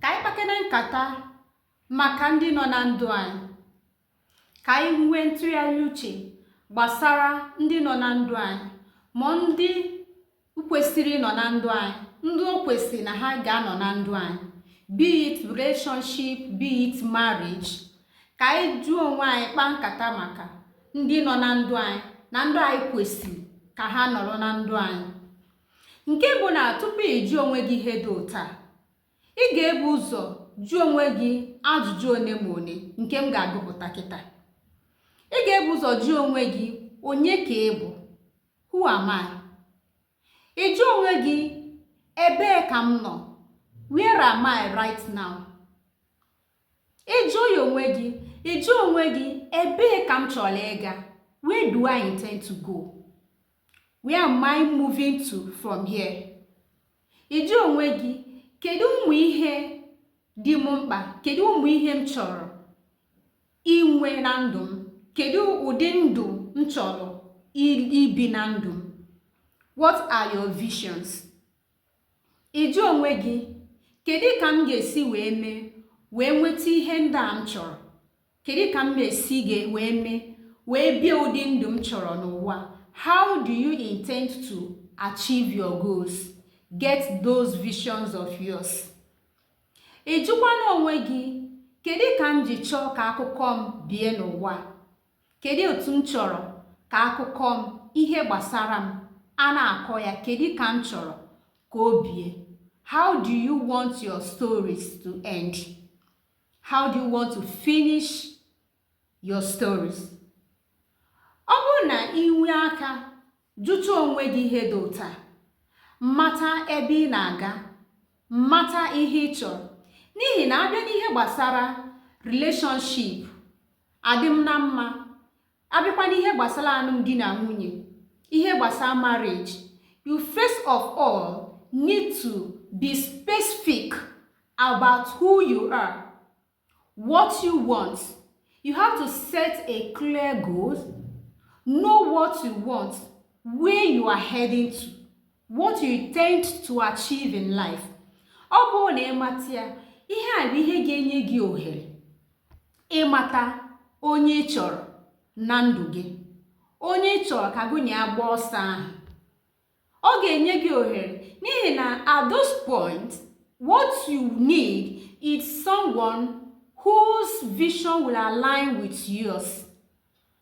ka anyị kpakene nkata maka ndị nọ na ndụ anyị ka anyị nwee ntụgharị uche gbasara ndị nọ na ndụ anyị ma ndị kwesịrị ịnọ na ndụ anyị ndị o kwesịrị na ha ga-anọ na ndụ anyị be it relationship be it marriage ka anyị jụọ onwe anyị kpaa nkata maka ndị nọ na ndụ anyị na ndị anyị kwesịrị ka ha nọrọ na ndụ anyị Nke bụ na tupu ị jụọ onwe gị ihe dị otu a, ị ga-ebu ụzọ jụọ onwe gị ajụjụ one ma one nke m ga-agụpụta kịta. Ị ga-ebu ụzọ jụọ onwe gị onye ka ị bụ? Who am I? Ị jụọ onwe gị ebee ka m nọ? Where am I right now? Ị jụọ ya onwe gị, ị jụọ onwe gị ebee ka m chọrọ ịga? Where do I intend to go? where am I moving to from here ị jụọ onwe gị kedu ụmụ ihe dị m mkpa kedu ụmụ ihe m chọrọ inwe na ndụ m kedu ụdị ndụ m chọrọ ibi na ndụ m what are your visions ị jụọ onwe gị kedu ka m ga-esi wee mee wee nweta ihe ndị a m chọrọ kedu ka m ga-esi ga wee mee wee bie ụdị ndụ m chọrọ n'ụwa how do you intend to achieve your goals get those visions of yours ị jụkwana onwe gị kedu ka m ji chọọ ka akụkọ m bie n'ụwa kedu otu m chọrọ ka akụkọ m ihe gbasara m a na-akọ ya kedu ka m chọrọ ka o bie how do you want your stories to end how do you want to finish your stories ọ bụrụ na i nwee aka jụta onwe gị ihe dị otu a mata ebe ị na-aga mata ihe ị chọrọ n'ihi na a bịa n'ihe gbasara relationship adịm na mma a bịakwa n'ihe gbasara alụmdi na nwunye ihe gbasara marriage you first of all need to be specific about who you are what you want you have to set a clear goal know what you want where you are heading to What you intend to achieve in life. Ọ bụrụ na ị mata ya, ihe a bụ ihe ga-enye gị ohere ịmata onye ị chọrọ na ndụ gị, onye ị chọrọ ka gị na ya gbaa ọsọ ahụ. Ọ ga-enye gị ohere n'ihi na at this point, what you need is someone whose vision will align with yours.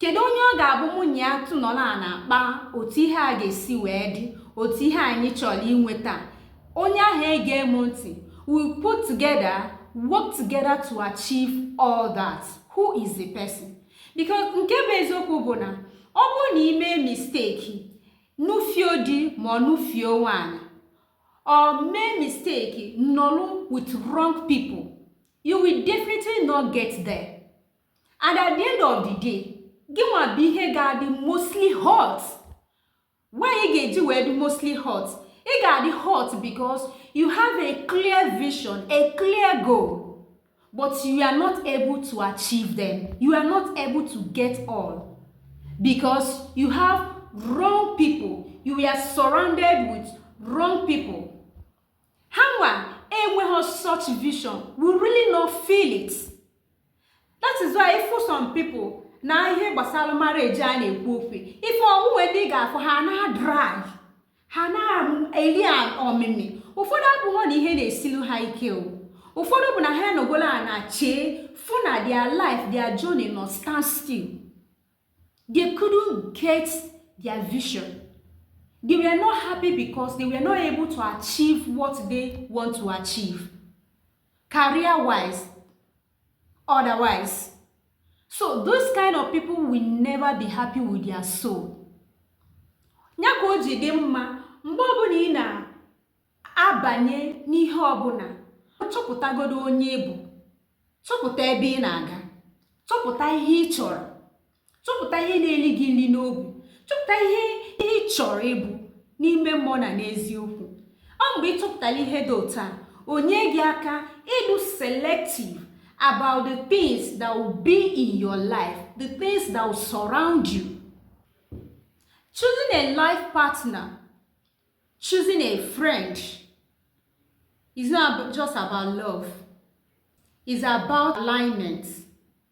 kedu onye ọ ga-abụ mụ na ya nọrọ a na-akpa otu ihe a ga-esi wee dị otu ihe anyị chọrọ inweta onye ahụ ege m ntị we put together work together to achieve all that who is the person because nke bụ eziokwu bụ na ọ bụrụ na i mee mistake nụfio di ma ọ nụfio nwanyị or mee mistake nọlụ with wrong people you will definitely not get there. and at the end of the day gị nwa bụ ihe ga-adị mostly hurt why ị ga-eji wee dị mostly hurt ị ga-adị hurt because you have a clear vision a clear goal but you are not able to achieve them you are not able to get all because you have wrong people you are surrounded with wrong people ha nwa enweghị such vision will really not feel it that is why ị fụ some people na ihe gbasara marriage a na-ekwu okwu ife onwunwe di ị ga-afụ ha na dry ha na-eri ọmịmị ụfọdụ abụghọ na ihe na-esilu ha ike o ụfọdụ bụ na ha nọgolo ana chee fụ na their life their journey nọ stand still they couldn't get their vision they were not happy because they were not able to achieve what they want to achieve career wise otherwise so those kind of people will never be happy with their soul ya ka o ji dị mma mgbe ọbụla ị na-abanye n'ihe ọbụla chọpụtagodo onye ị bụ chọpụta ebe ị na-aga chọpụta ihe ị chọrọ chọpụta ihe na-eli gị nri n'obi chọpụta ihe ihe ị chọrọ ịbụ n'ime mmụọ na n'eziokwu ọ mgbe ị chọpụtara ihe dị otu a o nye gị aka ịdụ selective about the things that will be in your life the things that will surround you choosing a life partner choosing a friend is not just about love it's about alignment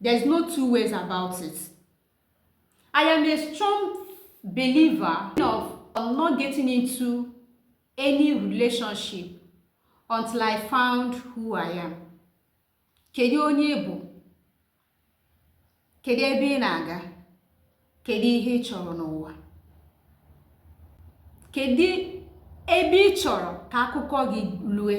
There's no two ways about it. I am a strong believer of not getting into any relationship until I found who I am. Kedu onye ị bụ? Kedu ebe ị na-aga? Kedu ihe ị chọrọ n'ụwa? Kedu ebe ị chọrọ ka akụkọ gị lue?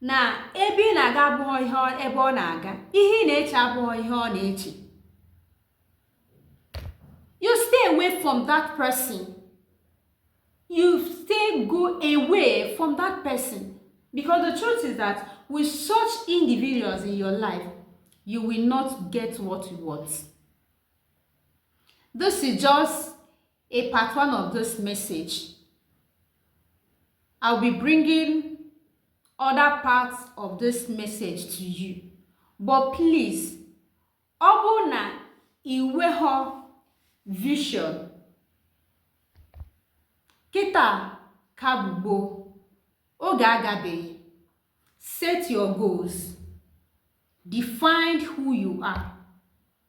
na ebe ị na-aga abụghị ihe ebe ọ na-aga ihe ị na-eche abụghị ihe ọ na-eche you stay away from that person you stay go away from that person because the truth is that with such individuals in your life you will not get what you want this is just a part one of this message. I'll be bringing other parts of this message to you. But please, ọ bụrụ na i nweghọ vision kịta ka bụ gboo oge agabeghị set your goals define who you are